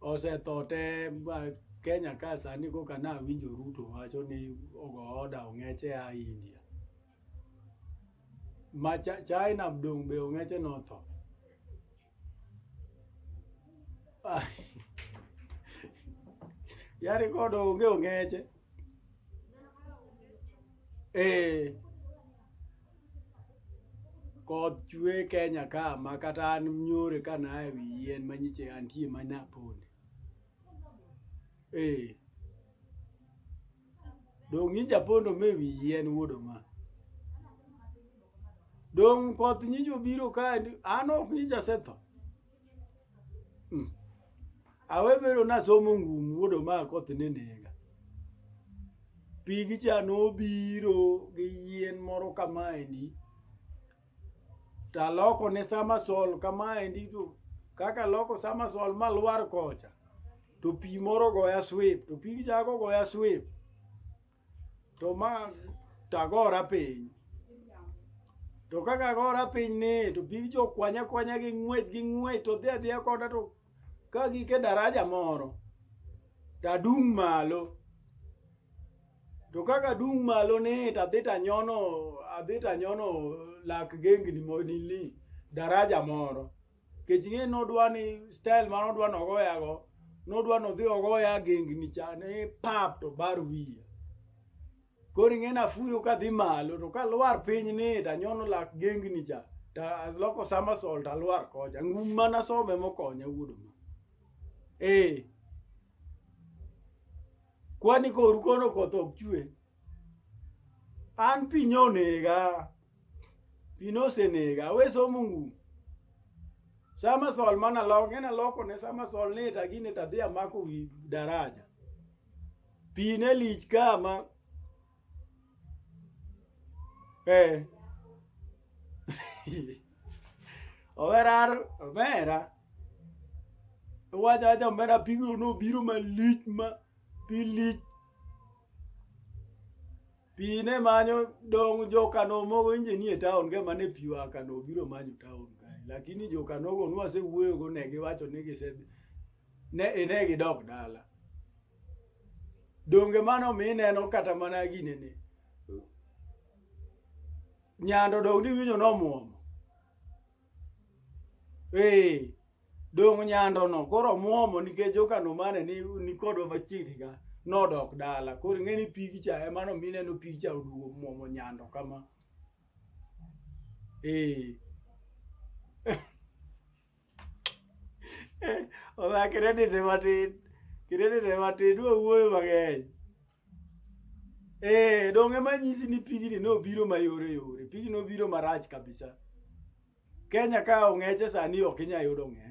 Osetote Kenya ka sani koka nawinjo Ruto wacho ni ogo oda ong'eche a India. Ma China dong' be ong'eche notho. Yari kodo onge ong'eche. Eh. Koth chwe Kenya ka ma kata an nyore ka na e wi yien ma nyiche antie ma na ponde. Eh. Dong' nyicha pondo me wi yien wuodo ma. Dong' koth nyicho biro ka an ok nyicha setho. Hmm. Awebero nasomo ngum wuod omako othi ni nega. Pigi cha nobiro gi yien moro kamaendi. Taloko ne samasol kamaendi to kaka loko samasol malwar kocha to pi moro goya swip to pigi cha gogoya swip. to ma tagora piny to kaka agora piny ni to big jo kwanya kwanya gi ng'wech gi ng'wech to dhi adhiya koda to ka gike daraja moro tadung' malo to kaka dung' malo ni tadhi tanyono adhi tanyono lak gengni monili daraja moro kech ing'e nodwa ni style ma nodwa nogoyago nodwa nodhi ogoya gengni cha ni pap to bar wiya koro ing'e nafuyo kadhi malo to kalwar piny ni tanyono lak gengni cha taloko somersault alwar kocha ngum mana some mokonya wuodo ma ee kwani koru kono koth ok chwe an piny onega Pi nosenega. We somo ngum. Sama sol mana lok, ng'e naloko ne sama sol ni ta gini ta dhi amako wi daraja. Pi ne lich kama. Eh. Overar, overa. Wacha acha omera pigno nobiro malich ma pilich Pi ne manyo dong jokano mogo inje nie taon ge mane pi oa kano obiro manyo taon kae lakini jokanogo nwasewuoyogo ne giwacho ni gise ne ine gidok dala donge mano mi ineno kata mana ginene nyando dong niwinjo nomwomo Ee, dong' nyandono koro omuomo nikech okano mane ni nikodwa machiegni ka nodok dala koro ing'e ni pigi cha emano mineno pigi cha oduogo muomo nyando kama ee oa kredit matin kredit matin wawuoyo mang'eny Eh, donge manyisi ni pigni nobiro mayore yore. Pigni nobiro marach kabisa. Kenya ka ong'eche sani ok inya yudo ng'e.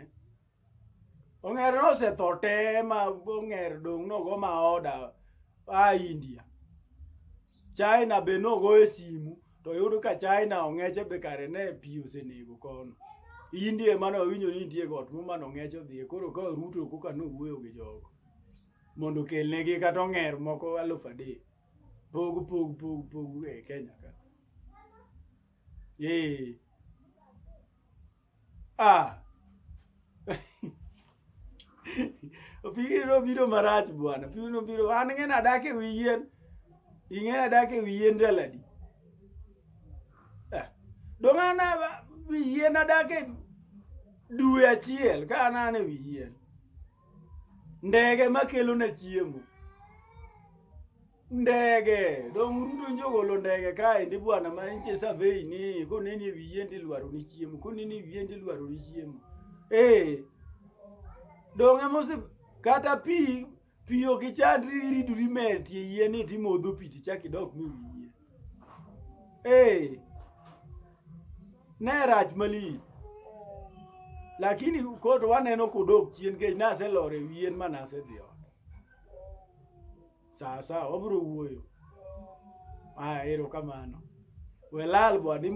Ong'er nosetho te ma ong'er dong' nogo ma oda a India. China be nogo e simu to yudo ka China ong'eche be kare ne pi osenego kono. India emane wawinjo ni nitie got mumano ong'eche odhiye koro ka Ruto koka nowuoyo gi jogo. mondo okelnegi kata ong'er moko alufu adek pog pog pog pog e Kenya ka ee ah opigino biro marach bwana opigino biro an ng'ena adak e wi yien ing'ena adak e wi yien daladi ah. dong' an wi yien adak e due achiel ka an an e wi yien ndege makelo na chiemo ndege dong ruto njogolo ndege kaendi bwana ma nitie survey ni koneni e wiye ndi lwaro ni chiemo koneni e wiye ndi lwaro ni chiemo eh dong amose kata pi pi ok ichandri iridori metie yie ni timodho pi tichak idok mi wiye Hey, ne rach malich lakini kod waneno kodok chien kech naselor e wien ma nasedhi ot sawa sawa wabiro wuoyo aya erokamano welal bwadimo